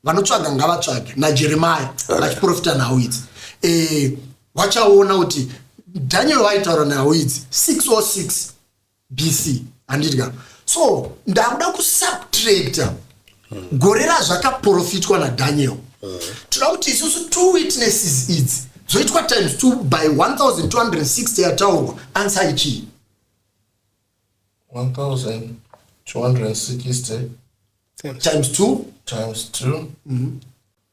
vanotsvaga ngavatsvage najeremaya vachiprofita nhau idzi eh, wachaona kuti daniel vaitaura nhau idzi 606 bc handiti ka so ndakuda kusubtracta gore razvakaprofitwa nadaniel toda kuti isusu two witnesses idzi dzoitwa times two by 1260 yataurwa answer ichii 1260 times two times two mm -hmm.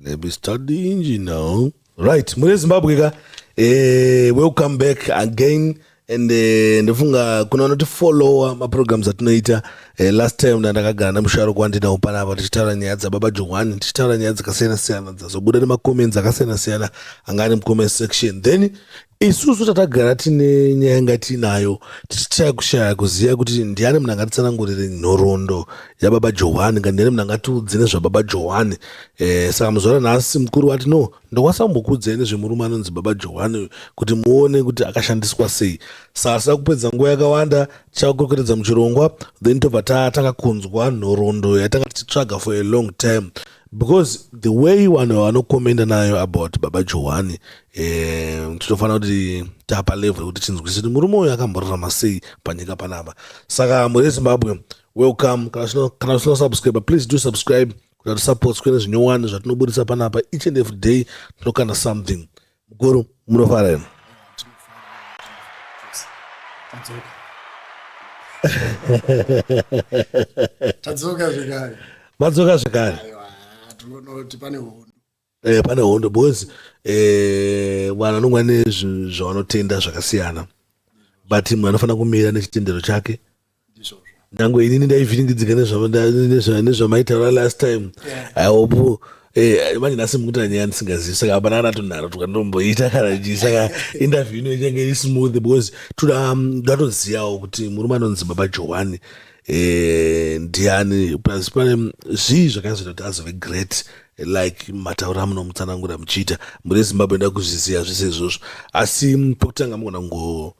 Let me start the engine now. Right, muri Zimbabwe ka? Eh, welcome back again and eh, ndofunga kuna vanoti follower maprograms atinoita eh, last time ndandakagara nemusharuko wandinawo panapa tichitaura nyaya dzababa johwani tichitaura nyaya dzakasiyana siyana dzazobuda nemacomments akasiyana siyana anga ane mucomment section then isusu tatagara tine nyaya yanga tiinayo tichitya kushaya kuziva kuti ndiani munhu angatitsanangurire nhoroondo yababa johani ka ndiani munhu angatiudze nezvababa johani eh, saka muzvara nhasi mukuru wati no ndokwanisa kumbokuudzai nezvemurume anonzi baba johani kuti muone kuti akashandiswa sei saka tisina kupedza nguva yakawanda tichakukwekweredza muchirongwa then tobva tatanga kunzwa nhoroondo yatanga tichitsvaga for a long time because the way vanhu vanokomenda nayo about baba johani um tinofanira kuti tapa level yekuti tinzwise kuti murume uyu akamborarama sei panyika panapa saka mhuri yezimbabwe welcome kana usina subscribe please do subscribe kuti atisapotswe nezvinyowani zvatinoburitsa panapa each and every day tinokanda something Mukuru munofara here? Tadzoka zvekare. Madzoka zvekare. Aiwa, tinoona kuti pane hondo. Eh, pane hondo because eh, vanhu vanonga nezvavanotenda zvakasiyana but mnhu anofanira kumira nechitendero chake nyange inini ndaivhiringidzika nezvamaitaura last time i hope Eh, manje nhasi mukuti anyaya ndisingazivi saka hapana kana tonharo tukandomboita kana chii saka interview ino ichange iri smooth because toda um, ndatozivawo kuti murume anonzi baba johani eh, ndiani plus pane zvii zvakazoita kuti azove great like mataura amunomutsanangura muchiita muri zimbabwe nda kuzviziva zvese izvozvo asi pokutanga mugona kungo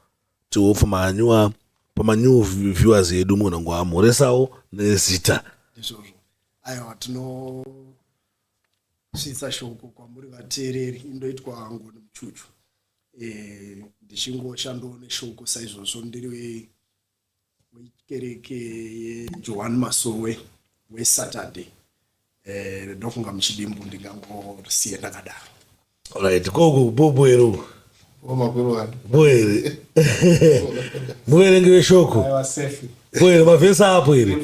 Tihopfu manyua pamanew viewers edu munhu ngo amhoresawo nezita ndizvozvo aiwa tinosvitsa shoko kwamuri vateereri indoitwa ngo nemuchuchu e, ndichingoshandowo neshoko saizvozvo ndiri wekereke yejohani masowe wesaturday eh, ndofunga muchidimbu ndingangorisiye ndakadaro right koko boboero boere muverengi veshoko boere mavhesi apo here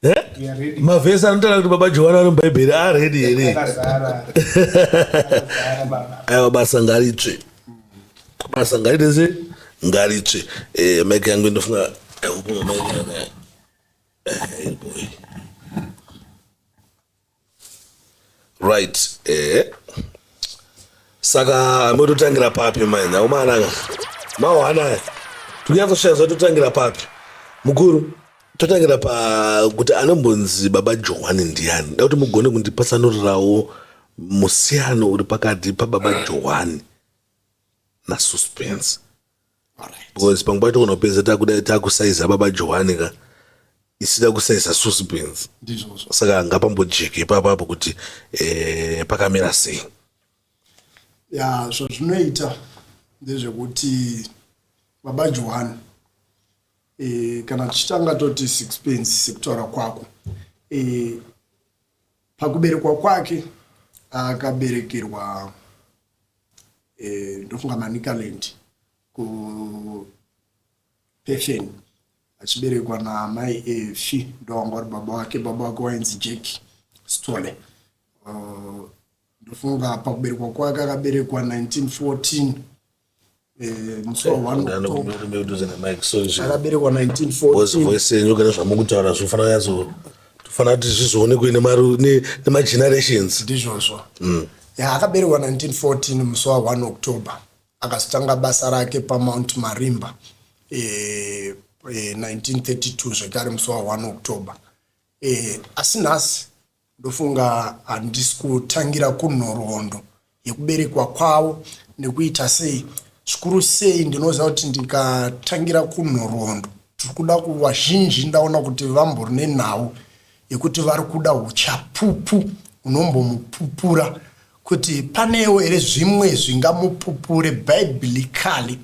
eh? mavhesi anotaura kuti baba johani ari mubhaibheri aredi here aiwa basa ngaritsve basa ngaite se ngaritsve eh, mike yangu inofunga akupuma mike yanga eh, boy right eh saka mototangira papi mai nhau maanaka mawanaya tikunyatsosvaya zva totangira papi mukuru totangira pakuti anombonzi baba johani ndiani da kuti mugone kundipatsanurirawo musiyano uri pakati pababa johani nasuspense because pamwe pacho kona kupedza takuda takusaiza baba johani ka isida kusaiza suspense saka ngapambojeke ipapapo kuti eh, pakamira sei ya zvazvinoita ndezvekuti baba johani e, kana tichitanga toti sixpence sekutaura kwako e, Pakuberekwa kwake akaberekerwa eh, ndofunga Manicaland ku Pefen achiberekwa naamai Efi ndovanga vari baba wake baba wake wainzi Jack Stole uh, ndofunga pakuberekwa kwake akaberekwa 1914 akaberekwa 1914voice yenyu kana zvamukutaura zvofanira yazo tofanira kuti zvizoonekwe nemagenerations ndizvozvo mm. ya akaberekwa 1914 musi wa 1 october akazotanga basa rake pamount marimba e, e, 1932 zvekare musi wa 1 october e, asi nhasi Ndofunga handisi kutangira kunhoroondo yekuberekwa kwavo nekuita sei. Zvikuru sei ndinoziva kuti ndikatangira kunhoroondo tiri kuda kuvazhinji ndaona kuti vambori nenhau yekuti vari kuda uchapupu unombomupupura kuti panewo here zvimwe zvingamupupure biblically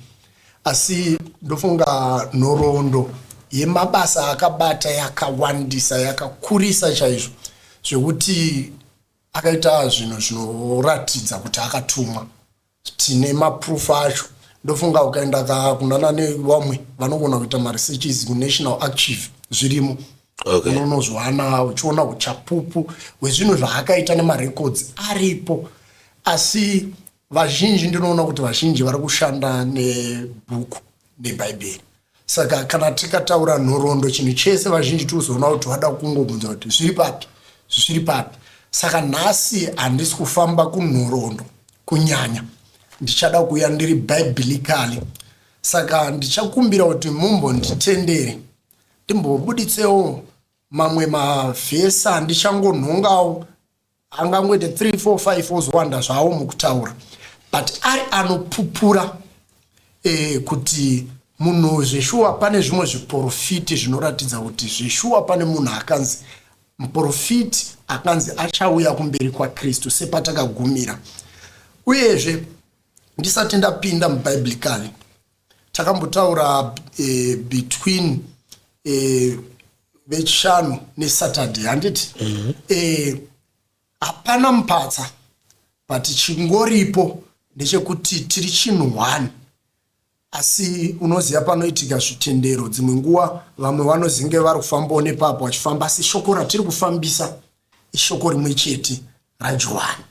Asi ndofunga nhoroondo yemabasa akabata yakawandisa yakakurisa chaizvo zvekuti akaita zvinhu zvinoratidza kuti akatumwa tine maproof acho ndofunga ukaenda kakunana nevamwe vanogona kuita maresearches kunational archive zvirimo okay. unonozwana uchiona uchapupu hwezvinhu zvaakaita nemarecords aripo asi Vazhinji ndinoona kuti vazhinji vari kushanda nebhuku nebhaibheri saka kana tikataura nhorondo chinhu chese vazhinji tikuzoona kuti vada kungobvunza kuti zviri papi zvisiri papi saka nhasi handisi kufamba kunhorondo kunyanya ndichada kuuya ndiri bhiblically saka ndichakumbira kuti mumbonditendere ndimbobuditsewo mamwe mavhesi andichangonhongawo angangoite 3 4 5 ozowanda zvawo mukutaura but ari anopupura eh, kuti munhu zveshuwa pane zvimwe zviporofiti zvinoratidza kuti zveshuwa pane munhu akanzi muporofiti akanzi achauya kumberi kwakristu sepatakagumira uyezve ndisati ndapinda mubhiblically takambotaura eh, between eh, vechishanu nesaturday handiti mhm. eh, hapana mm -hmm. eh, mupatsa but chingoripo ndechekuti tiri chinhu one asi unoziva panoitika zvitendero dzimwe nguva vamwe vanozinge vari kufambawo nepapo vachifamba asi shoko ratiri kufambisa ishoko rimwe chete rajohani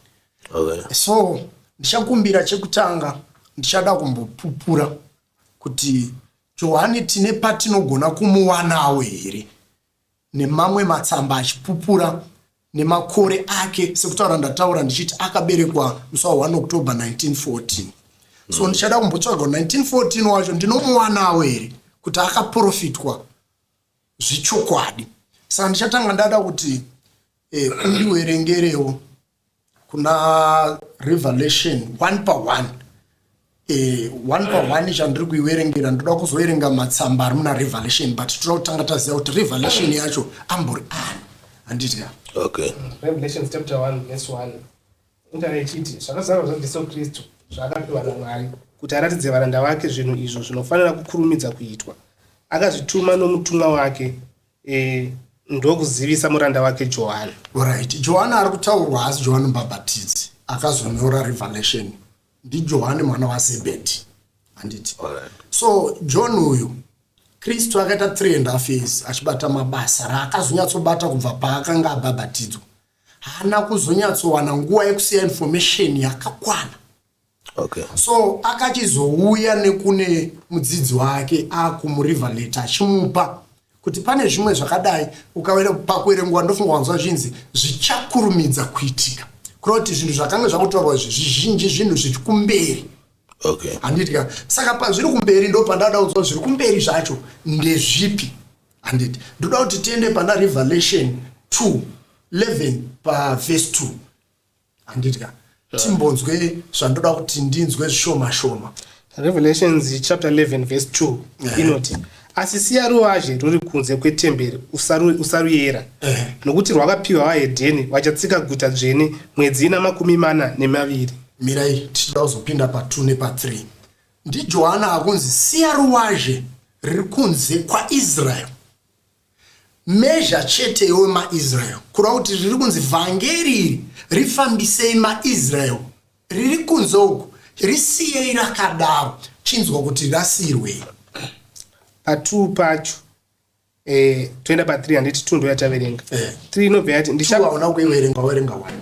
okay. so ndichakumbira chekutanga ndichada kumbopupura kuti johani tine patinogona kumuwanawo here nemamwe matsamba achipupura nemakore ake sekutaura ndataura ndichiti akaberekwa musi wa 1 october 1914 so mm. ndichada kumbotsvaga 1914 wacho ndinomuwanawo here kuti akaprofitwa zvechokwadi saka ndichatanga ndada kuti eh, undiwerengerewo kuna revelation one pa one eh, one pa one chandiri kuiverengera ndoda kuzoverenga matsamba ari muna revelation but toda kutanga taziva kuti revelation yacho ambori ani handiti okay. revelation chapter 1 verse 1 Inga ichiti, zvakazarwa zvaJesu Kristu zvaakapiwa naMwari kuti aratidze varanda vake zvinhu izvo zvinofanira kukurumidza kuitwa. Akazvituma nomutumwa wake e, ndokuzivisa muranda wake Johani. Right. Johani ari kutaurwa haasi Johani Mbhabhatidzi akazonyora Revelation. NdiJohani mwana waZebhedhi. Handiti? Alright. So John uyu Kristu akaita three and half years achibata mabasa raakazonyatsobata kubva paakanga abhabhatidzwa. haana kuzonyatsowana nguva yekusiya information yakakwana okay. so akachizouya nekune mudzidzi wake akumuriver letter achimupa kuti pane zvimwe zvakadai pakuerengwa ndofunga wanzwa zvinzi zvichakurumidza kuitika kureva kuti zvinhu zvakanga zvakutorwa izvi zvizhinji zvinhu zviri kumberi okay. handiti ka saka pazviri kumberi ndo pandada kunzwa zviri kumberi zvacho ndezvipi Handiti ndoda kuti tiende pana Revelation 2 11 pavhesi 2 handiti ka timbonzwe zvandoda kuti ndinzwe zvishoma shoma revelations chapter 11 verse 2 yeah. inoti asi siya ruwazhe ruri kunze kwetemberi usaruyera yeah. nokuti rwakapiwa vahedheni vachatsika guta dzvene mwedzi ina makumi mana nemaviri mirai tichida kuzopinda pa2 nepa3 NdiJohana akunzi siya ruwazhe riri kunze kwaIsrael. Measure chete iwe maIsrael kureva kuti riri kunzi vhangeri iri rifambisei maIsrael riri kunze uku risiyei rakadaro chinzwa kuti rasiyirwei. Patuu pacho eh, toenda pa3 handiti tuu ndoyataverenga 3 eh. inobva yati ndichaona kuiverenga waverenga wani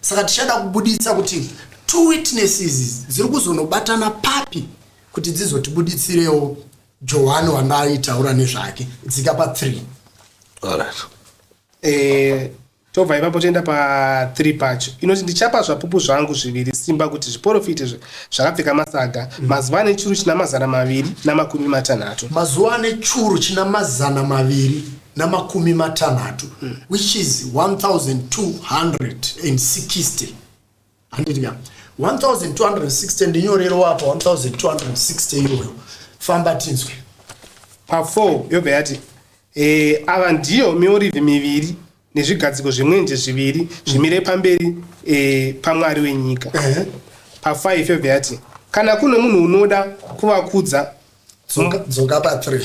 saka tichada kubuditsa kuti two witnesses dziri kuzonobatana papi kuti dzizotibuditsirewo johani wandaitaura nezvake dzika pa three Alright. Eh, tobva ipapo toenda pa 3 pacho inoti ndichapa zvapupu zvangu zviviri simba kuti zviporofite zve- zvakapfeka masaga mazuva ane churu china mazana maviri namakumi matanhatu mazuva ane churu china mazana maviri namakumi matanhatu mm. which is 1260 handiti ka 1260 ndinyorero apa 1260 iyoyo famba tinzwe pa4 yobva yati e, ava ndiyo miorivhi miviri nezvigadziko zvemwenje zviviri zvimire pamberi e, pamwari wenyika eh. pa5 yobva yati kana kune munhu unoda kuvakudza dzoka pa3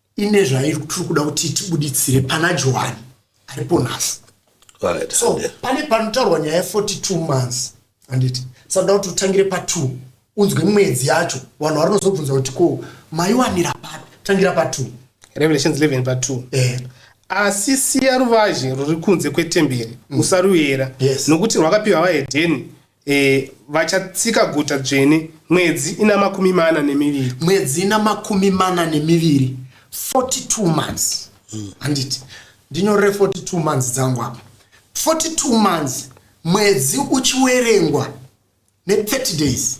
ine zvairi tiri kuda kuti tibuditsire pana johani aripo nhasi right, so yeah. pane panotaurwa nyaya ye 42 months handiti saka kuti utangire patwo unzwe mwedzi yacho vanhu vari nozobvunza kuti ko maiwanira papi tangira patwo revelations 11 patwo eh. asi siya ruvazhe ruri kunze kwetemberi mm. usaruyera yes. nokuti rwakapiwa vahedheni E, vachatsika guta dzvene mwedzi ina makumi mana nemiviri mwedzi ina makumi mana nemiviri 42 months hmm. handiti mm. ndinyorere 42 months dzangu apa 42 months mwedzi uchiwerengwa ne 30 days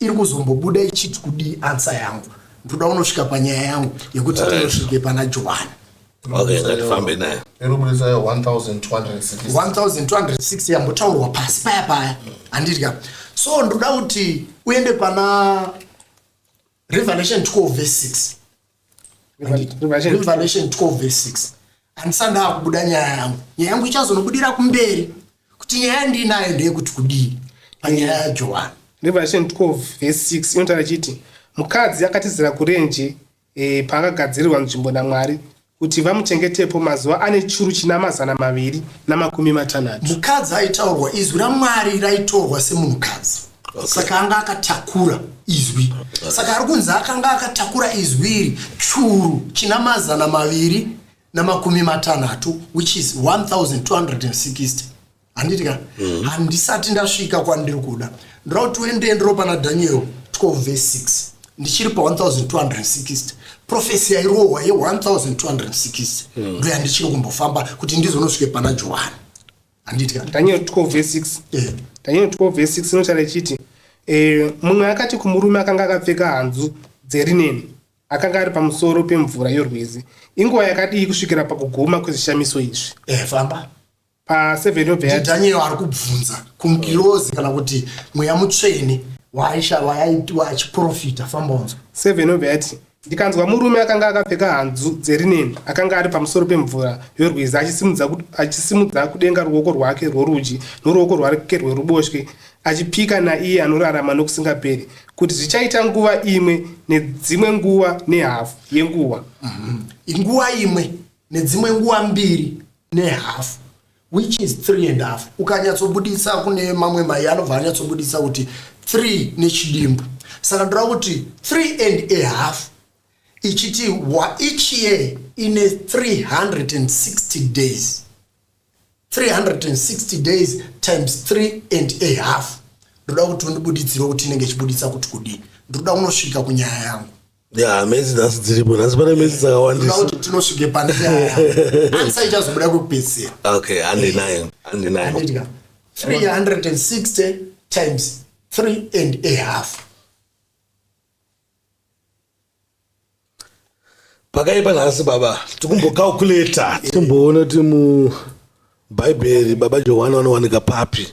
iri kuzombobuda ichiti kudii ansa yangu ndoda unosvika panyaya yangu yekuti Right. tinosvike pana johani Okay, ngatifambe naye. Iri kuburitsa 1260. 1260 yambotaurwa pasi paya paya handidya so ndoda kuti uende pana revelation 12 verse 6 revelation 12 verse 6 handisanda akubuda nyaya yangu nyaya yangu ichazonobudira kumberi kuti nyaya ndiinayo ndeyekuti kudii panyaya yajohani revelation 12 verse 6 inotaura chiti mukadzi akatizira kurenje e, paakagadzirirwa nzvimbo namwari kuti vamuchengetepo mazuva ane churu china mazana maviri namakumi matanhatu mukadzi aitaurwa izwi ramwari raitorwa semunhukadzi okay. saka anga akatakura izwi okay. saka ari kunzi akanga akatakura izwi iri churu china mazana maviri namakumi matanhatu which is 1260 handiti ka mm. handisati ndasvika kwandiri kuda ndira kuti uende ndiro pana daniel 12 vese 6 ndichiri pa 1260 profesi yairohwa ye 1260 mm. ndoyandichiri kumbofamba kuti ndizonosvike pana johani handitya daniel 12 verse 6 eh. daniel 12 verse 6 inotaura ichiti eh, mumwe akati kumurume akanga akapfeka hanzu dzerineni akanga ari pamusoro pemvura yorwizi inguva yakadii kusvikira pakuguma kwezvishamiso izvi eh, famba pa7 yobhedaniel ari kubvunza kungirozi kana kuti mweya mutsvene waaisha waaitwa achiprofita famba unzwa 7 yobheyati Ndikanzwa murume akanga akapfeka hanzu dzerineni akanga ari pamusoro pemvura yorwizi achisimudza, achisimudza kudenga ruoko rwake rworudyi noruoko rwake rweruboshwe achipika naiye anorarama nokusingaperi kuti zvichaita nguva imwe nedzimwe nguva nehafu yenguva. Inguva imwe nedzimwe nguva mbiri nehafu. Which is three and half ukanyatsobuditsa kune mamwe mai anobva anyatsobuditsa kuti three nechidimbu saka ndoreva kuti three and a half ichiti each year ine 360 days 360 days times 3 and a half ndoda kuti undibudidzire kuti inenge ichibuditsa kuti kudii ndinoda kunosvika kunyaya yangu ya mezi nhasi dziripo nhasi pane mezi dzakawandisauti tinosvike pane ansa ichazobuda kwekupedzisira okay handinayo handinayo 360 times 3 and a half pakaipa nhasi baba tikumbocalculata timboona kuti mubhaibheri baba johani vanowanika papi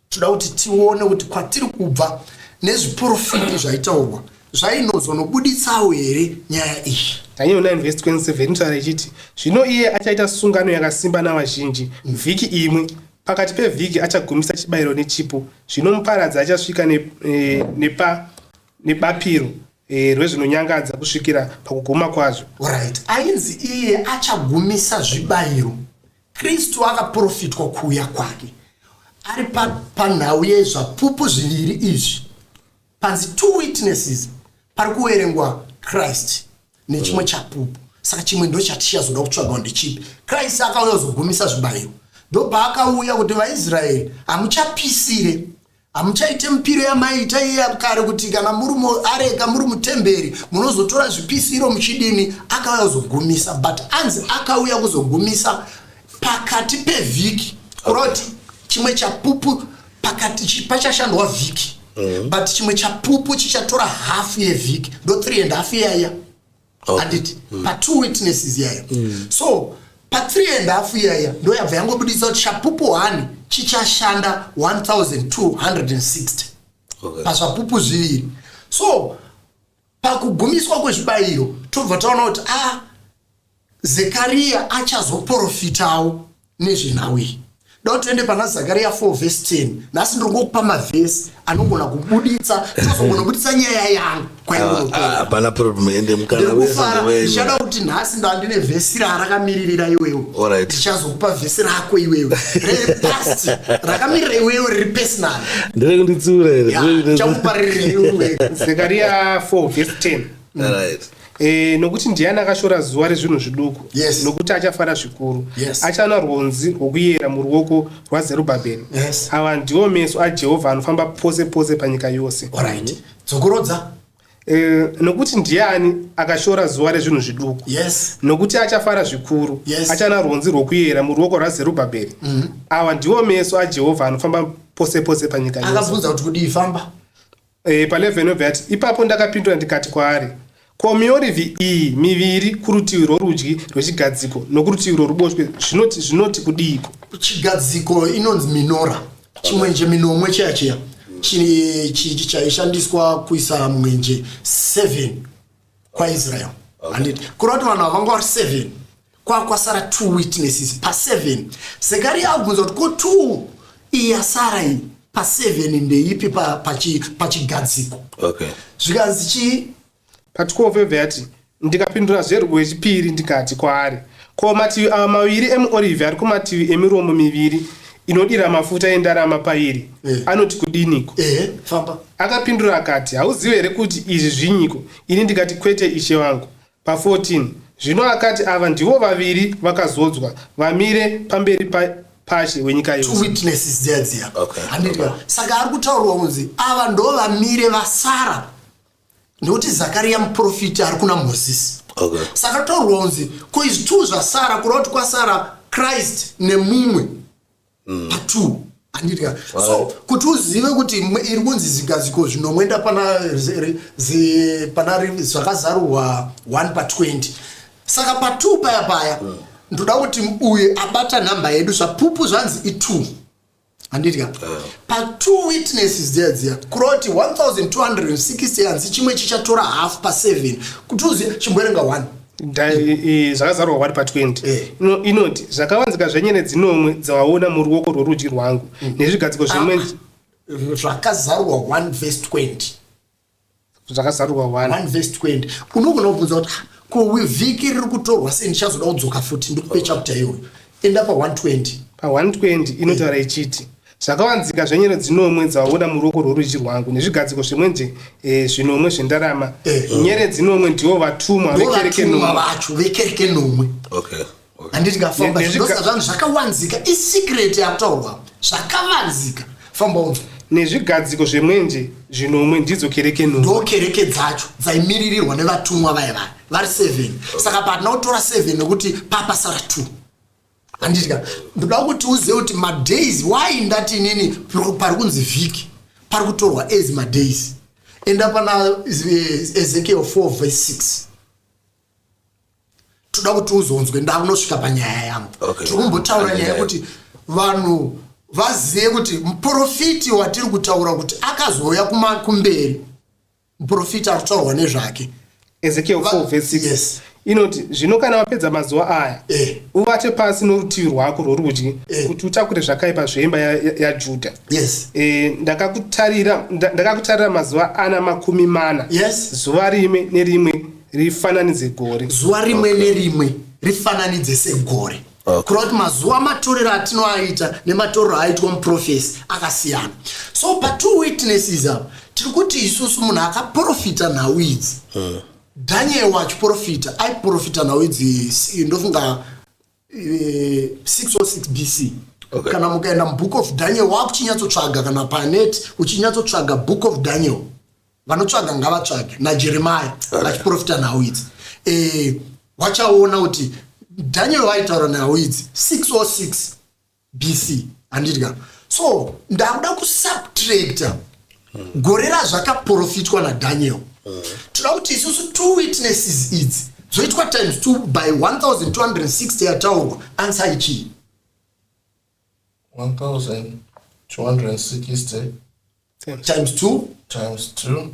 toda kuti tione kuti kwatiri kubva nezviporofiti zvaitaurwa zvainozonobuditsawo here nyaya iyi daniel 9 vhesi 27 inotaura ichiti zvino iye achaita sungano yakasimba navazhinji vhiki imwe pakati pevhiki achagumisa chibayiro nechipo zvino muparadzi achasvika ne, e, nepa nebapiro e, rwezvinonyangadza kusvikira pakuguma kwazvo right ainzi iye achagumisa zvibayiro Kristu akaprofitwa kuuya kwake ari panhau pa yezvapupu zviviri izvi panzi two witnesses pari kuverengwa christ nechimwe mm. chapupu saka chimwe ndo chatichazoda kutsvagawo ndechipi christ akauya kuzogumisa zvibayiro ndopaakauya kuti vaisraeri hamuchapisire hamuchaite mipiro yamaiita iya kare kuti kana muri muareka muri mutemberi munozotora zvipisiro muchidini akauya kuzogumisa but anzi akauya kuzogumisa pakati pevhiki kuroti chimwe chapupu pakati pachashandwa vhiki mm. but chimwe chapupu chichatora hafu yevhiki ndo 3 and half yaiya handiti okay. mm. patwo witnesses yayo mm. so pathree and half iyaya ndo yabva yangobudisa kuti chapupu one chichashanda 1260 okay. pazvapupu zviviri so pakugumiswa kwezvibayiro tobva taona kuti a ah, zekariya achazoprofitawo nezvenhau iyi da kuti tiende pana zakariya 4 vhesi 10 nhasi ndiri ngokupa mavhesi anogona kubuditsa tozogona kubuditsa nyaya yangu kwaihapana problem ende mukanaekufara ndichada kuti nhasi ndandine vhesi rarakamiririra iwewe ndichazokupa vhesi rako iwewe repast rakamirira iwewe riri pesinal ndire kunditsura here chakuparirira iwewe zakariya 4 vhesi 10 E, nokuti ndiani akashora zuva rezvinhu zviduku yes. nokuti achafara zvikuru yes. achana rwonzi rwokuyera muruoko rwazerubhabheri yes. ava ndiwo meso ajehovha anofamba pose pose panyika yose right. dzokorodza e, nokuti ndiani akashora zuva rezvinhu zviduku yes. nokuti achafara zvikuru yes. achana rwonzi rwokuyera muruoko rwazerubhabheri mm -hmm. ava ndiwo meso ajehovha anofamba pose pose panyika yose akabvunza kuti kudii famba E, palevel inobva yati ipapo ndakapindura ndikati kwaari ko miorivi iyi miviri kurutivi rworudyi rwechigadziko nokurutivi rworuboshwe zvinoti zvinoti kudiiko chigadziko inonzi minora chimwenje minomwe chiya chiya chaishandiswa kuisa mwenje 7 kwaisrael handiti okay. kureva kuti vanhu havanga vari seven kwakwasara two witnesses paseven sekari yaabvunza kuti ko two iyi yasara iyi paseven ndeipi pachigadziko pa okay. zvikanzi chii patikofeve yati ndikapindura zverwo yechipiri ndikati kwaari ko mativi ava maviri emuorivhi ari kumativi emiromo miviri inodira mafuta endarama pairi Eh. anoti kudiniko ehe famba akapindura akati hauzive here kuti izvi zvinyiko ini ndikati kwete ishe vangu pa14 zvino akati ava ndivo vaviri vakazodzwa vamire pamberi pa- pashe wenyika two yose witnesses dziya dziya Okay. handiti saka ari kutaurwa kunzi ava ndo vamire vasara nekuti zakariya muprofiti ari kuna mozisi okay. saka taurwa kunzi ko izvi two zvasara kureva kuti kwasara christ nemumwe mm. patwo andidya so kuti uzive kuti iri kunzi zigaziko zvinomwenda pana zvakazarurwa 1 pa 20 saka pa 2 paya paya mm. ndoda kuti uye abata nhamba yedu zvapupu zvanzi i2 handidya eh. patwo witnesses dziya dziya kuroti 1260 hanzi chimwe chichatora half pa7 kuti uziva chimboerenga one zvakazarwa wari pa20 eh. inoti zvakawanzika zvenyene dzinomwe dzawaona muruoko rworudyi rwangu mm. nezvigadziko zvimwe ah, zvakazarwa 1 vs 20 zvakazarurwa 1 vhesi 20 unogona kubvunza kuti ah, ko vhiki riri kutorwa sei ndichazoda kudzoka futi ndikupe chapter iyoyo enda pa120 pa120 inotaura ichiti zvakawanzika zvenyero dzinomwe dzavabuda muruoko rworudyi rwangu nezvigadziko zvemwenje eh, zvinomwe zvendarama eh. nyere dzinomwe ndivo vatumwa vekereke nomwe handiti kafamba zvindosa zvanhu zvakawanzika isecret yakutaurwa zvakavanzika famba unzwa nezvigadziko zvemwenje zvinomwe ndidzo kereke no ndo kereke dzacho dzaimiririrwa nevatumwa vaye vaya vari seven saka patina kutora seven nekuti papa sara two handitika ndoda kuti uzive kuti madays why ndati inini pari kunzi vhiki pari kutorwa as madays enda pana eh, ezekiel four verse six toda kuti uzonzwe ndaunosvika panyaya yangu okay. tiri kumbotaura nyaya yekuti vanhu vazive kuti muprofiti watiri kutaura kuti akazouya kumberi muprofiti ari kutaurwa nezvake ezekiel 4 vs 6 yes inoti zvino kana wapedza mazuva aya eh. uvate pasi norutivi rwako rworudyi eh. kuti utakure zvakaipa zvemba yajudha ya, ya yes. eh, ndakakutarira ndaka mazuva ana makumi mana yes. zuva rimwe nerimwe rifananidze gore zuva rimwe okay. nerimwe rifananidze segore okay. kureva kuti mazuva matorero atinoaita nematorero aitwa muprofesi akasiyana so patwo witnesses apa tiri kuti isusu munhu akaprofita nhau idzi hmm. daniel wachiprofita aiprofita nhau idzi ndofunga 606 eh, bc okay. kana mukaenda mubook of daniel wakuchinyatsotsvaga kana panet uchinyatsotsvaga book of daniel vanotsvaga ngavatsvage najeremaya okay. vachiprofita nhau idzi e, eh, wachaona kuti daniel waitaura nhau idzi 606 bc handidya so ndakuda kusubtracta gore razvakaprofitwa nadaniel toda kuti isusu two witnesses idzi dzoitwa times two by 1260 yataurwa answer ichii 1260 times two times two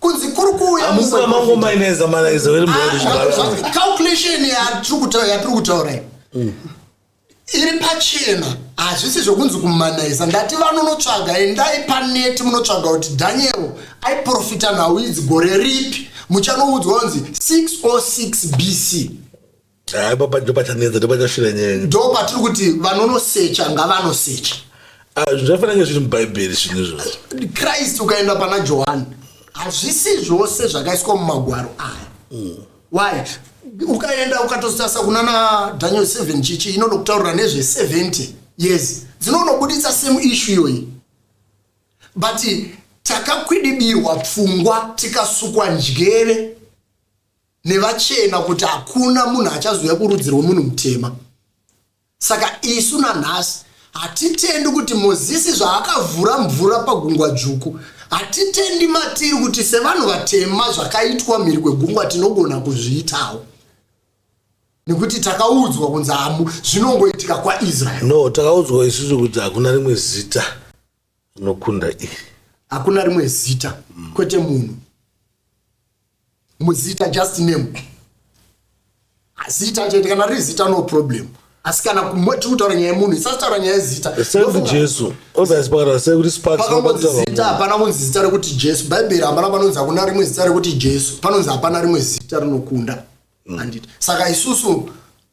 kunzi kuri kuuya Amuna mango maineza manaiza wele mwana chibara. calculation yatiri kutaura yatiri kutaura iyi iri pachena hazvisi zvokunzi kumanaiza ndati vanonotsvaga endai paneti munotsvaga kuti daniel aiprofita nhau idzi gore ripi muchanoudzwa kunzi 606 bc Ah, ipapa ndipo pachanetsa ndipo pachasvira nyaya ndo patiri kuti vanonosecha ngavanosecha Ah, zvinhu zvakafanira kunge zviri mubhaibheri zvinhu izvozvo christ ukaenda pana johani hazvisi zvose zvakaiswa mumagwaro aya why ukaenda ukatosasa kunana daniel 7 chichi inoda kutaurira nezve 70 years dzinonobuditsa same issue iyoyi but takakwidibirwa pfungwa tikasukwa njere nevachena kuti hakuna munhu achazouya kurudzi rwemunhu mutema saka isu nanhasi hatitendi kuti mozisi zvaakavhura mvura pagungwa dzvuku hatitendi matiri kuti sevanhu vatema zvakaitwa mhiri kwegungwa tinogona kuzviitawo nekuti takaudzwa kunzi hamu zvinongoitika kwaisraeri no takaudzwa isusu kuti hakuna rimwe zita rinokunda iri hakuna rimwe zita mm. kwete munhu muzita just name zita chete kana riri zita no problem asi kana tiri kutaura nyaya yemunhu isati taura nyaya yezita jesu zita hapana kunzi zita rekuti jesu bhaibheri hapana panonzi hakuna rimwe zita rekuti jesu panonzi hapana rimwe zita rinokunda mm. anditi saka isusu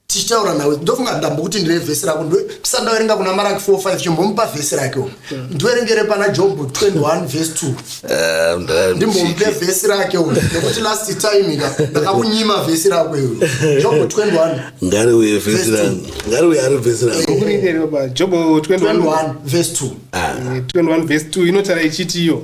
tichitaura nawe ndofunga ndambo kuti ndine vhesi rako tisandaverenga kuna maraki 45 chimbomupa vhesi rake mm. ndiverengere pana jobho 21 vhesi 2 eh, ndimbomupe vhesi rake u nekuti last time ka ndakakunyima vhesi rako iwe jobho 21 ngari uye vhesi rako ngari uye ari vhesi rako jobho 21 vhesi 2 21 vhesi 2 inotara ichiti iyo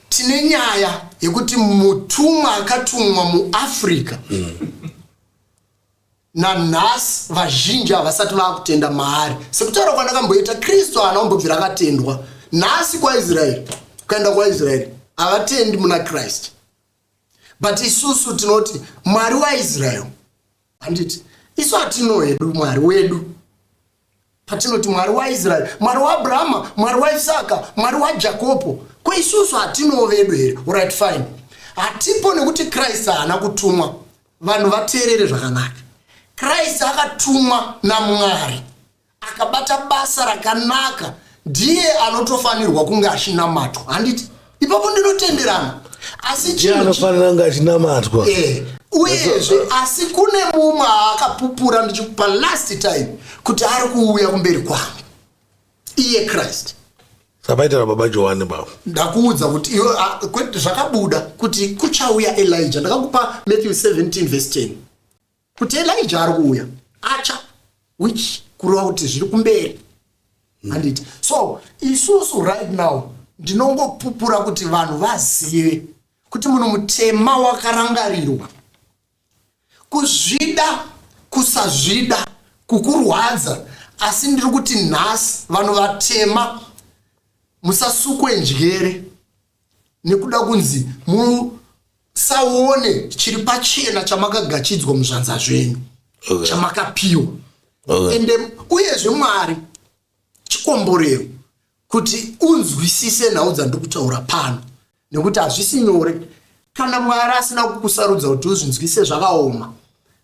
tine nyaya yekuti mutumwa akatumwa muafrica nanhasi vazhinji havasati vakutenda maari sekutaura kwandakamboita kristu haana kumbobvira akatendwa nhasi kwaisraeri ukaenda kwaisraeri havatendi muna kristu but isusu tinoti mwari waisraeri handiti isu hatino hedu mwari wedu Patinoti Mwari waIsraeri, Mwari waAbrahama, Mwari waIsaka, Mwari waJakopo, ko isusu hatinowo vedu here? Orit fine. Hatipo nekuti Christ haana kutumwa. Vanhu vateerere zvakanaka. Christ akatumwa naMwari. Akabata basa rakanaka. Ndiye anotofanirwa kunge achinamatwa. Handiti? ipapo ndinotenderana asi ndiye anofanira kunge achinamatwa eh, uyezve asi kune mumwe aakapupura ndichikupa last time kuti ari kuuya kumberi kwangu iye christ sapaitira baba johani baba ndakuudza kuti iwe zvakabuda kuti kuchauya elija ndakakupa matthew 17 vese 10 kuti elija ari kuuya acha which kureva kuti zviri kumberi hmm. handiti mm. so isusu right now ndinongopupura kuti vanhu vazive kuti muno mutema wakarangarirwa kuzvida kusazvida kukurwadza asi ndiri kuti nhasi vanhu vatema musasukwe njere nekuda kunzi musaone chiri pachena chamakagachidzwa muzvanza zvenyu okay. chamakapiwa okay. ende uyezve mwari chikomborero kuti unzwisise nhau dzandiri kutaura pano nekuti hazvisi nyore kana mwari asina kukusarudza kuti uzvinzwise zvakaoma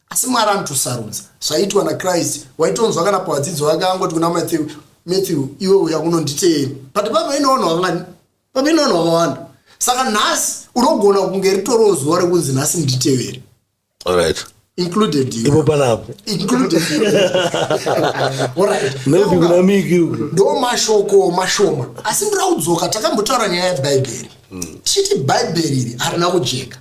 asi mwari anotosarudza zvaitwa nakristu waitonzwa kana pavadzidzi vake angoti kuna matthew matthew iwe uya kunonditeeri but pavainoona vanga pamene vanhu vakawanda saka nhasi unogona kunge ritoriwo zuva rekunzi nhasi nditevere alright included you. ipo panapo included you. Alright. maybe Saka, kuna miki uku ndo mashoko mashoma asi ndira kudzoka takambotaura nyaya yebhaibheri tichiti bhaibheri iri harina kujeka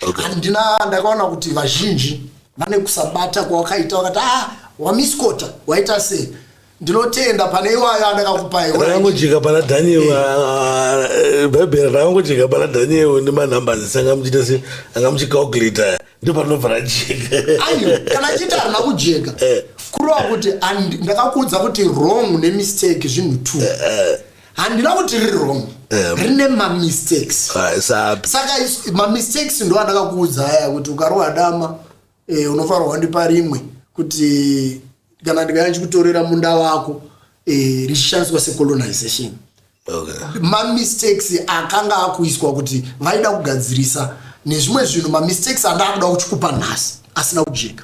okay. handina ndakaona kuti vazhinji vane kusabata kwawakaita wakati ah wamiskota waita sei ndinotenda pane iwayo andakakupai rakangojeka pana daniel eh. ah, ah, eh, bhaibheri rakangojeka pana daniel nemanumberes ese anga muchiita se anga muchicalculator ndo panobva rajeka ayo kana achiita harina kujeka eh. kurova kuti ndakakuudza kuti wrong nemistake zvinhu two handina kuti riri wrong Em. rine mamistakes Ah, sapi saka is- mamistakes ndo andakakuudza aya kuti ukarohwa dama eh, unofanirwa wandipa rimwe kuti kana ndikauya ndichikutorera munda wako eh, richishandiswa secolonization okay mamistakes akanga akuiswa kuti vaida kugadzirisa nezvimwe zvinhu mamistakes andaakuda kuchikupa nhasi asina kujeka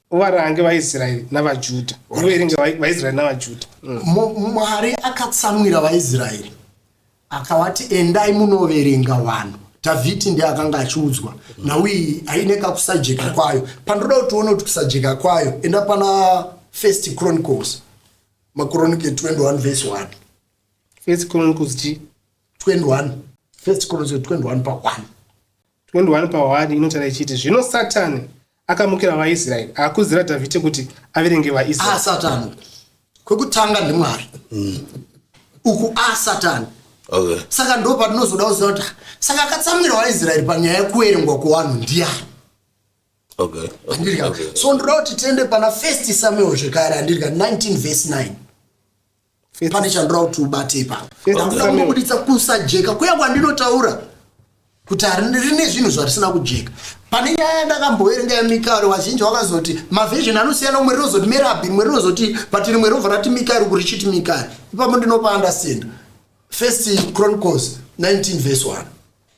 uvarange vaisraeri navajuda uverenge vaisraeri navajuda mm. mwari akatsamwira vaisraeri akavati endai munoverenga vanhu dhavhidhi ndiye akanga achiudzwa mm. nauyi aine kakusajeka kwayo pandoda kuti uone kuti kusajeka kwayo enda pana first chronicles macronike 21 vese 1 first chronicles chi 21 first chronicles 21 pa 1 21 pawani inotaura ichiti zvino satani akamukira vaisraeri akuzira dhavhidhi kuti averenge vaisraeri ah, satani kwekutanga ndimwari mm. uku a ah, satani okay. saka ndo patinozoda kuziva kuti ah, saka akatsamwira vaisraeri panyaya yekuverengwa kwevanhu ndiyani okay. okay. okay. so ndoda kuti tiende pana first samuel zvekare andirika 19 vese 9 pane chandoda kuti ubate ipapa ndakuda kunobuditsa kusajeka kuya kwandinotaura kuti rine zvinhu zvarisina kujeka pane nyaya yandakamboverenga yamikaeri vazhinji vakazoti mavhizheni anosiyana umwe rinozoti merabi rimwe rinozoti but rimwe rinobva rati mikaeri kuri chiti mikaeri ipapo ndinopa andastenda first chronicles 19 vs 1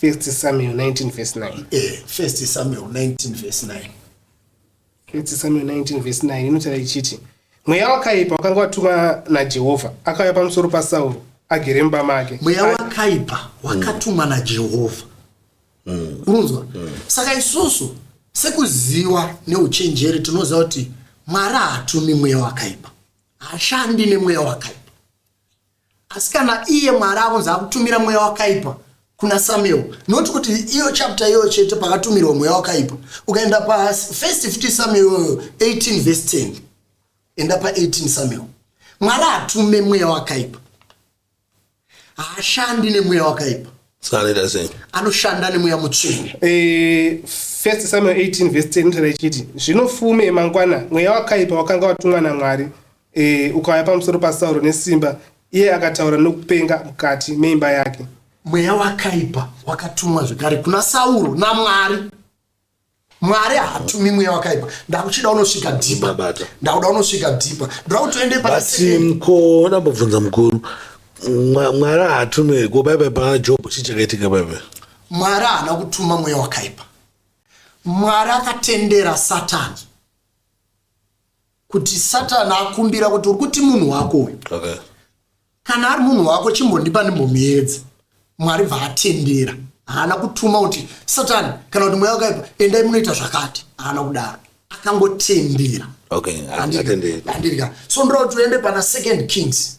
First Samuel 19 verse 9. Eh, First Samuel 19 verse 9. First Samuel 19 verse 9 inotaura ichiti mweya wakaipa wakanga watumwa naJehovha akauya pamusoro paSauro agere mumba make. Mweya wakaipa wakatumwa naJehovha. Unonzwa? Saka isusu sekuziva neuchenjeri tinoziva kuti Mwari haatumi mweya wakaipa. Haashandi nemweya wakaipa. Asi kana iye Mwari akunzi akutumira mweya wakaipa kuna Samuel, not kuti iyo chapter iyoyo chete pakatumirwa mweya wakaipa. Ukaenda pa first 50 Samuel iyoyo 18 verse 10. Enda pa 18 Samuel. Mwari atume mweya wakaipa. Haashandi nemweya wakaipa. Skaneta sei? Anoshanda nemweya mutsvene. Eh, first Samuel 18 verse 10 inotaura ichiti, zvino fume yemangwana mweya wakaipa wakanga watumwa naMwari E, ukauya pamusoro pasauro nesimba iye akataura nokupenga mukati meimba yake mweya wakaipa wakatumwa zvekare kuna sauro namwari mwari haatumi mweya wakaipa ndakuchida unosvika dhipa ndakuda unosvika dhipa ndakutoende pasimko ndambobvunza mukuru mwari haatumi ko baibai pana job chii chakaitika baibai mwari haana kutuma mweya wakaipa mwari akatendera satani kuti satani akumbira kuti uri kuti munhu wako uyu okay. kana ari munhu wako chimbondipa ndimbomuedza mwari bvaatendera haana kutuma kuti satani kana kuti mweya wakaipa endai munoita zvakati haana kudaro akangotendera okay. andirika so ndoda kuti uende pana second kings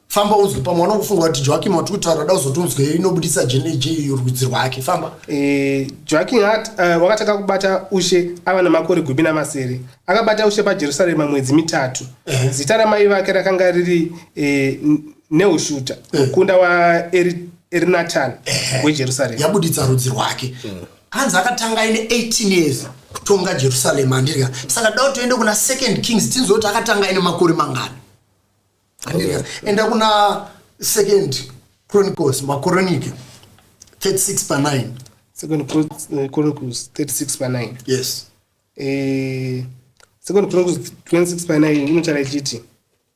famba unzwe pamwe wana kufunga kuti joakim wati kutaura da uzoti unzwe inobudisa jnj rudzi rwake famba eh, joakim hat eh, wakatanga kubata ushe ava namakore gumi namasere akabata ushe pajerusarema mwedzi mitatu eh. zita ramai vake rakanga riri neushuta mukunda waerinatan wejerusarema yabuditsa rudzi rwake hanzi akatanga aine 18 years kutonga jerusarema andirika saka da kuti toende kuna second kings tinzwe kuti akatanga aine makore mangani Andika, enda kuna second chronicles makoronike 36 pa 9 second Chron- eh, chronicles 36 pa 9 yes Eh, second chronicles 26 pa 9 inotaura ichiti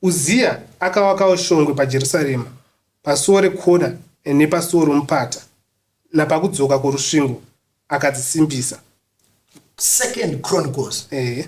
uziya akawakawo shongwe pajerusarema pasuo rekona eh, nepasuo romupata napakudzoka kworusvingo akadzisimbisa second chronicles eh,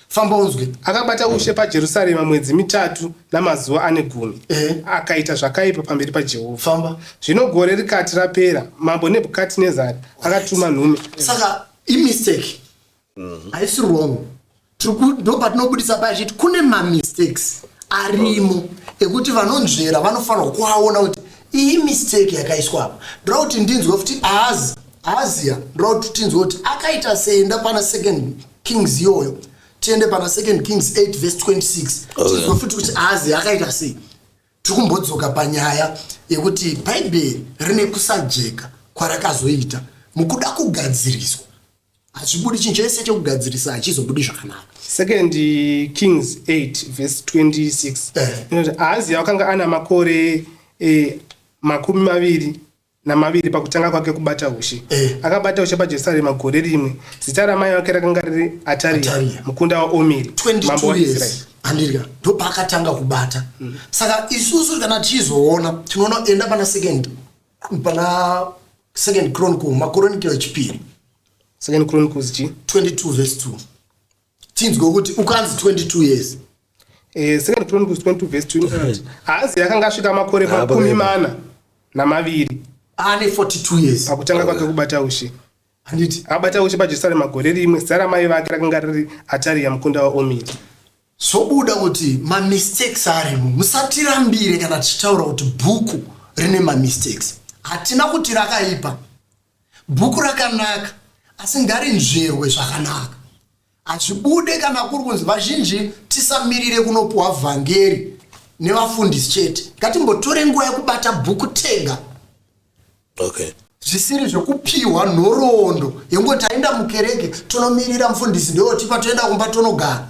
Famba unzwe. Akabata ushe paJerusarema mwedzi mitatu namazuva ane gumi, Ehe. akaita zvakaipa pamberi paJehovha. Famba. Zvino gore rikati rapera, mambo Nebhukadhinezari akatuma nhume. saka imistake haisi wrong Tiri ku- ndo patinobudisa paya chiti kune mamistakes arimo ekuti vanonzvera vanofanirwa kuaona kuti iyi mistake yakaiswa apa ndoda kuti ndinzwe kuti aazi aaziya ndoda kuti tinzwe kuti akaita sei ndapana second kings iyoyo tiende pana second kings 8 vese 26 tinzwe futi kuti ahazi akaita sei tiri kumbodzoka panyaya yekuti bhaibheri rine kusajeka kwarakazoita mukuda kugadziriswa hazvibudi chinhu chese chekugadzirisa hachizobudi zvakanaka second kings 8 vese 26 eh. inoti ahaziya wakanga ana makore eh, makumi maviri namaviri pakutanga kwake kubata hushi. Eh. Akabata hushi paJerusarema gore rimwe. Zita ramai vake rakanga riri Ataria, Ataria. mukunda waOmiri, mambo 22 waIsraeri. years handirya ndopaakatanga kubata Mm. saka isusu kana tichizoona tinoona enda pana second pana second chronicle makoronikero echipiri Second Chronicles chi 22 verse 2 tinzwe kuti ukanzi 22 years eh, second chronicles 22 verse 28 eh. haazi yakanga asvika makore makumi mana namaviri ane 42 years pakutanga kwake kubata ushe handiti abata ushe pajerusarema gore rimwe zita ramai vake rakanga riri atariya mukunda waomiri zvobuda kuti mamistakes arimo musatirambire kana tichitaura kuti bhuku rine mamistakes hatina kuti rakaipa Bhuku rakanaka asi ngarinzverwe zvakanaka. Hazvibude kana kuri kunzi vazhinji tisamirire kunopuhwa vhangeri nevafundisi chete. Ngatimbotore nguva yekubata bhuku tega. Okay zvisiri zvekupiwa nhoroondo yengoti aenda mukereke tonomirira mufundisi ndeotipa toenda kumba tonogara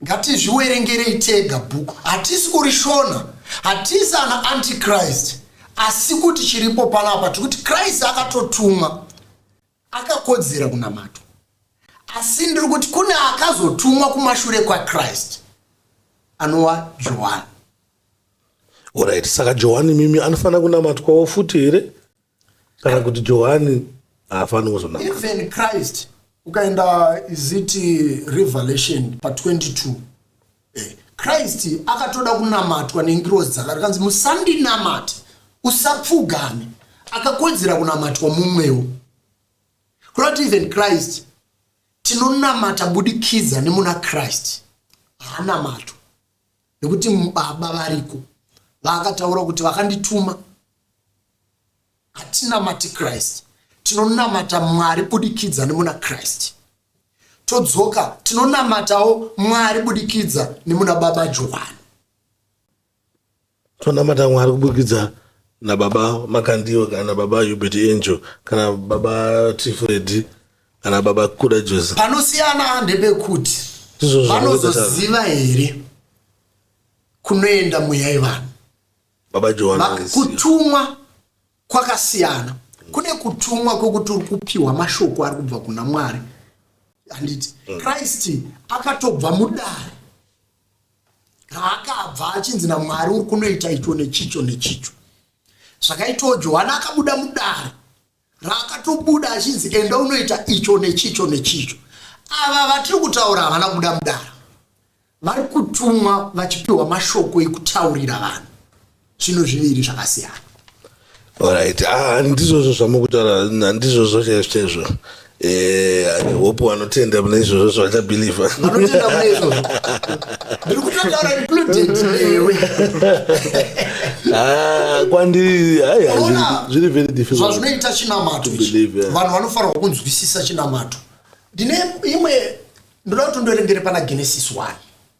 Ngatizviwerengerei tega book. Hatisi kurishona. Hatisi ana antichrist. Asi kuti chiripo panapa tikuti Christ akatotumwa akakodzera kunamata. Asi ndiri kuti kune akazotumwa kumashure kwaChrist anova Johani. Alright, saka Johani mimi anofanira kunamatwawo futi here? kana kuti johani haafaniri kuzonamata even christ ukaenda iziti revelation pa 22 eh, christ akatoda kunamatwa nengirozi dzakare kanzi musandinamate usapfugame akakodzera kunamatwa mumwewo kureva kuti even christ tinonamata budikidza nemuna christ haanamatwa nekuti baba variko vakataura kuti vakandituma hatinamati christ tinonamata mwari budikidza nemuna christ todzoka tinonamatawo mwari budikidza nemuna baba johani Tonamata Mwari kuburikidza nababa Makandiwa kana baba Hubert Angel kana baba Tifredi kana baba Kuda Jose. Panosiyana ndepekuti vanozoziva here kunoenda mweya yevanhu. Baba Joan. Kutumwa kwakasiyana. Kune kutumwa kwekuti uri kupiwa mashoko ari kubva kuna Mwari. Handiti mm. Christ akatobva mudare raakabva achinzi namwari uri kunoita icho nechicho nechicho zvakaitawo johani akabuda mudare raakatobuda achinzi enda unoita icho nechicho nechicho ava vatiri kutaura havana kubuda mudare vari kutumwa vachipiwa mashoko ekutaurira vanhu zvinhu zviviri zvakasiyana orit ah, handizvozvo zvamukutaura handizvozvo chaizvo chaizvo eh, hope vanotenda mune izvozvo zvavachabhilivha ah, kwandiri zviri very difficultzvazvinoita chinamato vanhu vanofanirwa kunzwisisa chinamato ndine imwe ndoda kuti ndoerengere pana genesis one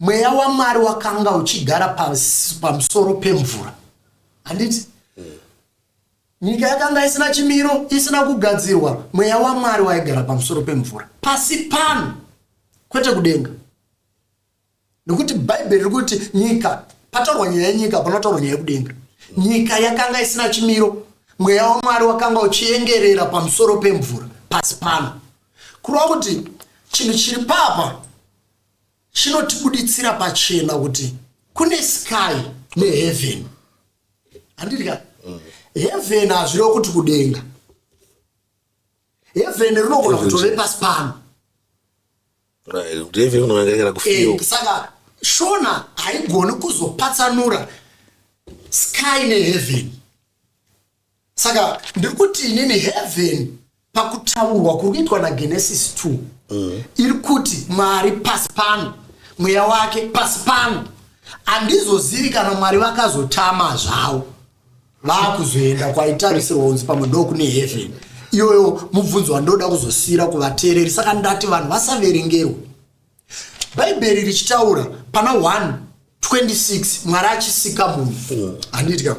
Mweya waMwari wakanga uchigara pamusoro pemvura. Handiti? Nyika yakanga isina chimiro, isina kugadzirwa. Mweya waMwari waigara pamusoro pemvura. Pasi pano, kwete kudenga. Nokuti Bhaibheri riri kuti nyika, pataurwa nyaya yenyika, panotaurwa nyaya yekudenga. Nyika yakanga isina chimiro, mweya wamwari wakanga uchiengerera pamusoro pemvura pasi pano kureva kuti chinhu chiri papa chinotibuditsira pachena kuti kune sky neheaven handiti ka mm. heaven hazvireva kuti kudenga heaven rinogona kutove pasi pano eh, saka shona haigoni kuzopatsanura sky neheaven saka ndiri kuti inini heaven pakutaurwa kuri kuitwa nagenesis 2 mm. iri kuti mwari pasi pano mweya wake pasi pano handizozivi kana mwari vakazotama zvavo vakuzoenda kwaitarisirwa kunzi pamwe ndokune heaven iyoyo mubvunzo wandoda kuzosiyira kuvateereri saka ndati vanhu vasaverengerwa bhaibheri richitaura pana 1 26 mwari achisika munhu handiti ka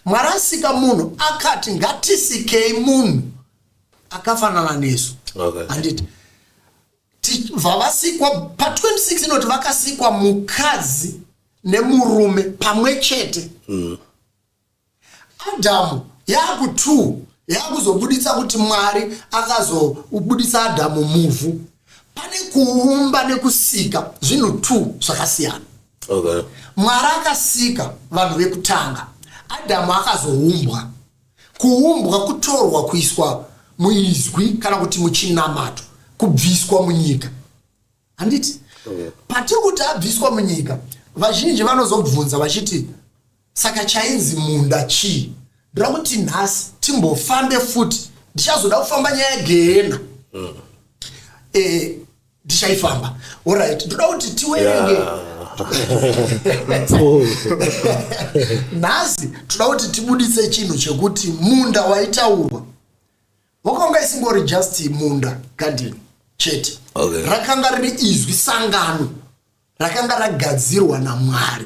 mwari asika munhu akati ngatisikei munhu akafanana nesu Okay. handiti Ti- vavasikwa pa26 inoti vakasikwa mukadzi nemurume pamwe chete Adhamu yaku 2 yakuzobuditsa kuti Mwari akazobuditsa Adhamu muvhu. Pane kuumba nekusika zvinhu 2 zvakasiyana. Okay. Mwari akasika vanhu vekutanga. Adhamu akazoumbwa. Kuumbwa kutorwa kuiswa muizwi kana kuti muchinamato kubviswa munyika. Handiti? Okay. Patiri kuti abviswa munyika vazhinji vanozobvunza vachiti Saka chainzi munda chii? Ndoda kuti nhasi timbofambe futi, ndichazoda kufamba nyaya yegehena. Mm. Eh, ndichaifamba. Eh, Alright, ndoda kuti tiwerenge. Yeah. nhasi toda kuti tibuditse chinhu chekuti munda waitaurwa wakanga isingori just munda garden chete okay. rakanga riri izwi sangano rakanga ragadzirwa namwari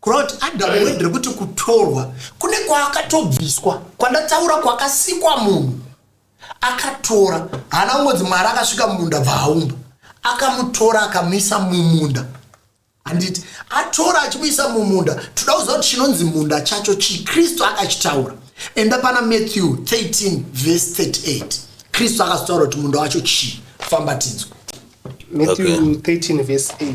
Kureva kuti Adamu wendere kuti kutorwa kune kwaakatobviswa kwandataura kwakasikwa munhu akatora haana kungonzi mwari akasvika mumunda bvaaumba akamutora akamuisa mumunda handiti atora achimuisa mumunda toda kuziva kuti chinonzi munda chacho chii kristu akachitaura enda pana matthew 13 vese 38 kristu akazotaura kuti munda wacho chii fambatidzwa matthew okay. 13 vese 8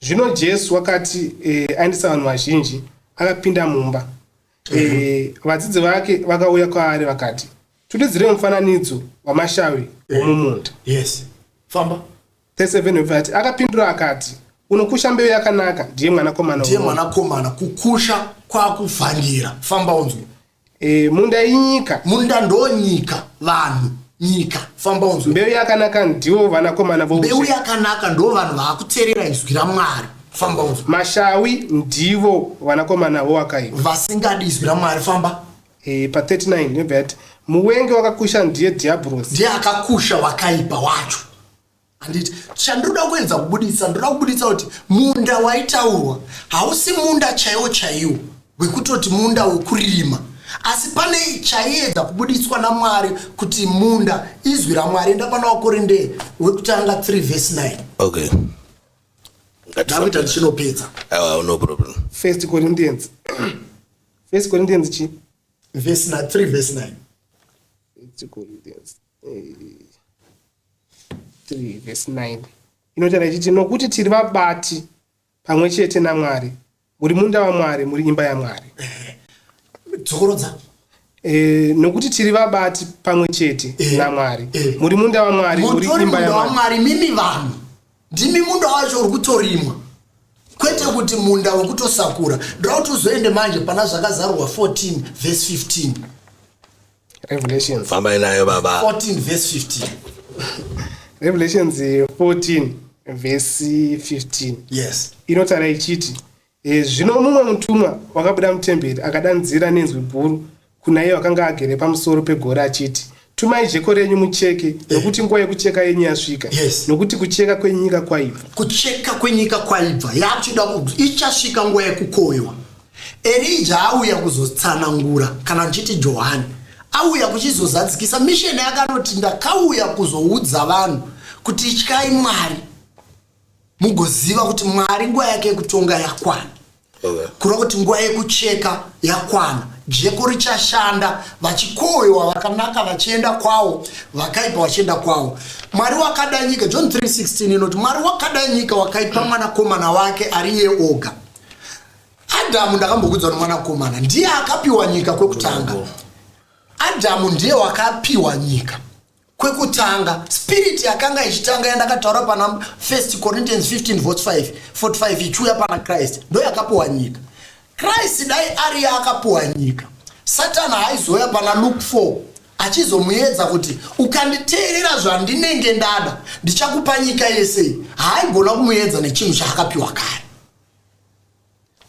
Zvino Jesu wakati e, aendesa vanhu vazhinji, akapinda mumba. E, mhm. vadzidzi vake vakauya kwaari vakati, Tutidzire mufananidzo wamashavi eh. womumunda. Yes. Famba. 37 akapindura akati, Unokusha mbeu yakanaka ndiye mwanakomana. Ndiye mwanakomana kukusha kwakuvhandira. Famba unzwe. Eh, munda inyika. Munda ndonyika vanhu nyika famba unzwe. Mbeu yakanaka ndiwo vanakomana vo. Mbeu yakanaka ndo vanhu vakuterera izwi raMwari. Famba unzwe. Mashawi ndivo vanakomana vo wakaipa. Vasingadi izwi raMwari famba. Eh, pa 39 nebva yati muwengi wakakusha ndiye Diabros. Ndiye akakusha wakaipa wacho. handiti chandoda kuedza kubuditsa ndoda kubuditsa kuti munda waitaurwa hausi munda chaiwo chaiwo wekutoti munda wekuririma asi pane chaiedza kubuditswa namwari kuti munda izwi ramwari enda pana wakorinde wekutanga 3 vhesi 9 okay ndakuita ndichinopedza awa no problem first corinthians first corinthians chi vhesi 3 vhesi 9 corinthians 3 vhesi 9 inotaura ichiti nokuti tiri vabati pamwe chete namwari muri munda wamwari muri imba yamwari dzokorodza e, nokuti tiri vabati pamwe chete e, namwari e, muri munda wamwari muri imba yamwari mimi vanhu ndimi munda wacho uri kutorimwa kwete kuti munda wekutosakura ndoda kuti uzoende manje pana zvakazarurwa 14 vhesi 15 Revelations. Fambai nayo baba. 14 verse 15. Revelations 14 verse 15. Yes. Inotara ichiti e, zvino mumwe mutumwa wakabuda mutemberi akadanzira nenzwi guru kuna iye wakanga agere pamusoro pegore achiti tumai jeko renyu mucheke eh. nokuti nguva yekucheka yenyu yasvika yes. nokuti kucheka kwenyika kwaibva kucheka kwenyika kwaibva yakuchida ichasvika nguva yekukoywa Erija auya kuzotsanangura, kana ndichiti Johani, auya kuchizozadzikisa misheni yake. Anoti, Ndakauya kuzoudza vanhu kuti ityai Mwari, mugoziva kuti Mwari nguva yake yekutonga yakwana, kureva kuti nguva yekucheka yakwana. Jeko richashanda, vachikowewa vakanaka vachienda kwawo, vakaipa vachienda kwawo. Mwari wakada nyika, John 3:16 inoti, Mwari wakada nyika wakaipa mwanakomana wake ari iye oga adhamu ndakambokudzwa nomwanakomana ndiye akapiwa nyika kwekutanga adhamu ndiye wakapiwa nyika kwekutanga spirit yakanga ichitanga yandakataura pana 1 corinthians 15 vs 5 45 ichiuya pana christ ndo yakapiwa nyika christ dai ari yaakapiwa nyika satani haizouya pana luke 4 achizomuyedza kuti ukanditeerera zvandinenge ndada ndichakupa nyika yese haaigona kumuyedza nechinhu chaakapiwa kare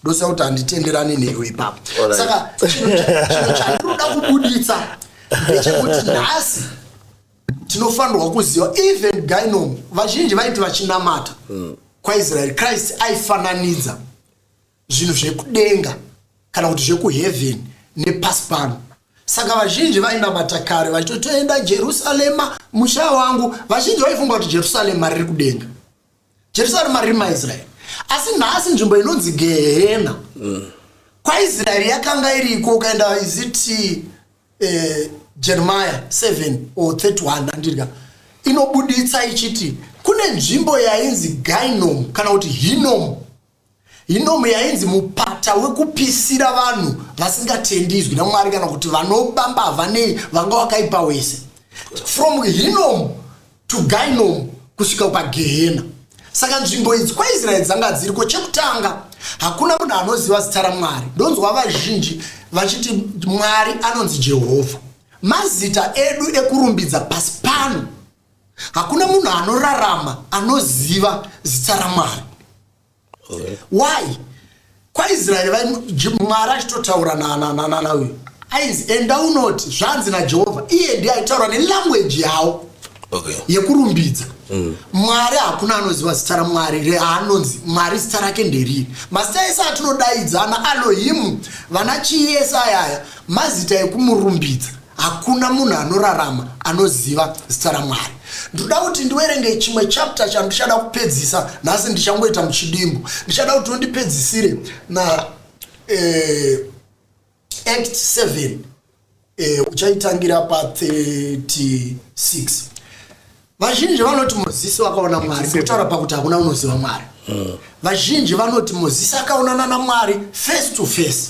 ndoziva kuti handitenderani newe ipapo saka chinhu chandinoda kubuditsa ndechekuti nhasi tinofanirwa kuziva even gynom vazhinji vaiti vachinamata hmm. kwaisraeri christ aifananidza zvinhu zvekudenga kana kuti zvekuheaven nepasi pano saka vazhinji vainamata kare vachitotoenda jerusarema musha wangu vazhinji vaifunga kuti jerusarema riri kudenga jerusarema riri maisraeri asi nhasi nzvimbo inonzi gehena mm. kwaisraeri yakanga iriko ukaenda iziti eh, jeremiya 7 or 31 andirga inobuditsa ichiti kune nzvimbo yainzi gainom kana kuti hinom Hinomu yainzi mupata wekupisira vanhu vasingatendi izwi namwari kana kuti vanoba mbavha nei vanga wakaipa wese from hinomu to gainomu kusvika pagehena saka nzvimbo idzi kwaisraeri dzanga dziriko chekutanga hakuna munhu anoziva zita ramwari ndonzwa vazhinji vachiti mwari anonzi jehovha mazita edu ekurumbidza pasi pano hakuna munhu anorarama anoziva zita ramwari why kwaisraeri mwari achitotaura nanauyu ainzi enda unoti zvanzi najehovha iye ndiye aitaura nelangweji yawo okay. yekurumbidza mm. mwari hakuna anoziva zita ramwari reanonzi mwari zita rake nderiri mazita ese atinodaidzana alohimu vana chiyesayaya mazita ekumurumbidza Hakuna munhu anorarama anoziva zita raMwari. Ndinoda kuti ndiwerenge chimwe chapter chandichada kupedzisa nhasi, ndichangoita muchidimbu. Ndichada kuti undipedzisire na eh, Act 7 eh, uchaitangira pa 36. Vazhinji vanoti Mozisi wakaona Mwari, kutaura pakuti hakuna unoziva Mwari. Vazhinji vanoti Mozisi akaonana naMwari face to face.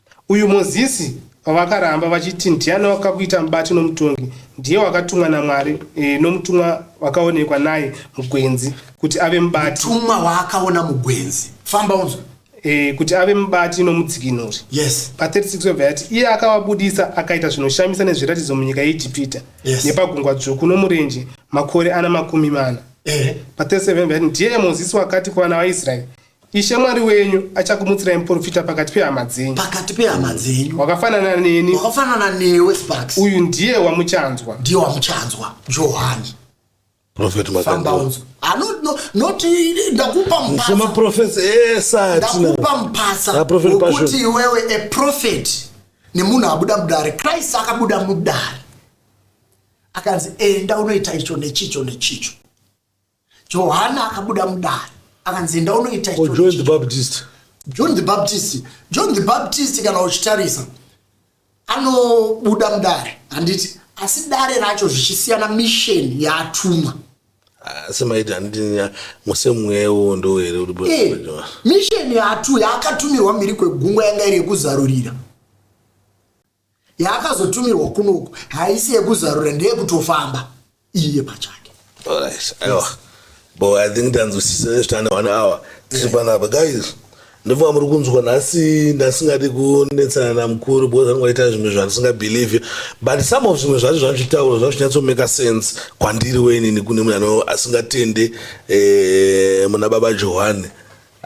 Uyu Mozisi wavakaramba vachiti ndiani wakakuita mubati nomutongi, ndiye wakatumwa naMwari nomutumwa wakaonekwa naye mugwenzi kuti ave mubati. Mutumwa waakaona mugwenzi. Famba unzwe. Eh, kuti ave mubati nomudzikinuri. Yes. Pa 36 webva yati iye akavabudisa akaita zvinoshamisa nezviratidzo munyika yeIjipita yes. nepagungwa dzvuku nomurenje makore ana makumi mana. Eh. Pa 37 yati ndiye Mozisi wakati kuvana vaIsraeri Ishe Mwari wenyu achakumutsirai muporofita pakati pehama dzenyu. Pakati pehama dzenyu. Wakafanana neni. Wakafanana newe Sparks. Uyu ndiye wamuchanzwa. Ndiye wamuchanzwa. Johani. Prophet Makandoro. Ah, no, no, not eh, ndakupa mpasa. Sema prophets esa eh, atina. Ndakupa mpasa. Na ah, prophet Kuti iwewe a prophet ni munhu abuda mudare. Christ akabuda mudare. Akanzi enda unoita icho nechicho nechicho. johani akabuda mudare akanzi enda unoita oh, john the baptist john the baptist john the baptist kana uchitarisa anobuda mudare handiti asi dare racho zvichisiyana misheni yaatumwa asi maiti handiti musemweya iwowo ndo here eh, misheni yaatu yaakatumirwa mhiri kwegungwa yanga iri yekuzarurira yaakazotumirwa kunoku haisi yekuzarura ndeyekutofamba iye pachake bo i think tanzwisisa nezvitane one hour tiri panapa guys ndobva muri kunzwa nhasi ndasingadi kunetsana namukuru because anenge aita zvimwe zvandisingabelieve but some of zvimwe zvacho zvazvitaura zvazvinyatsomeka sense kwandiri wenini kune munhu asingatende eh, muna baba johani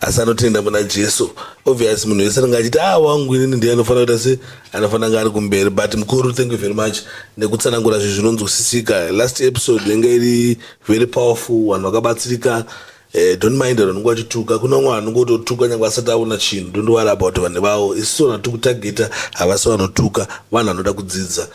asi anotenda muna jesu obvious munhu wese anenge achiti a ah, wangu inini ndiye anofanira kuita se anofanira nga ari kumberi but mukuru thank you very much nekutsanangura zvinhu zvinonzwisisika last episode yanga iri very powerful vanhu vakabatsirika eh, don't mind vanhu vanenge vachituka kune vamwe vanhu ngototuka nyange asati aona chinhu don't worry about vanhu vavo isiso vanhu tiri kutageta havasi vanotuka vanhu vanoda kudzidza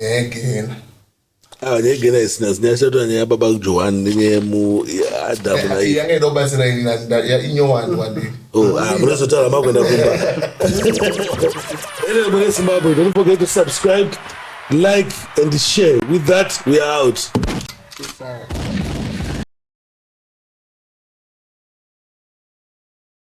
nyaya yegehena ah, nyaya yegehena isina nyaya shatira nyaya baba johani nenyaya yemuadamu na yanga ida kubatsira ini inyowani wadii oh, ah, munozotaura makuenda kumba ene mune zimbabwe don't forget to subscribe like and share with that we are out Sorry.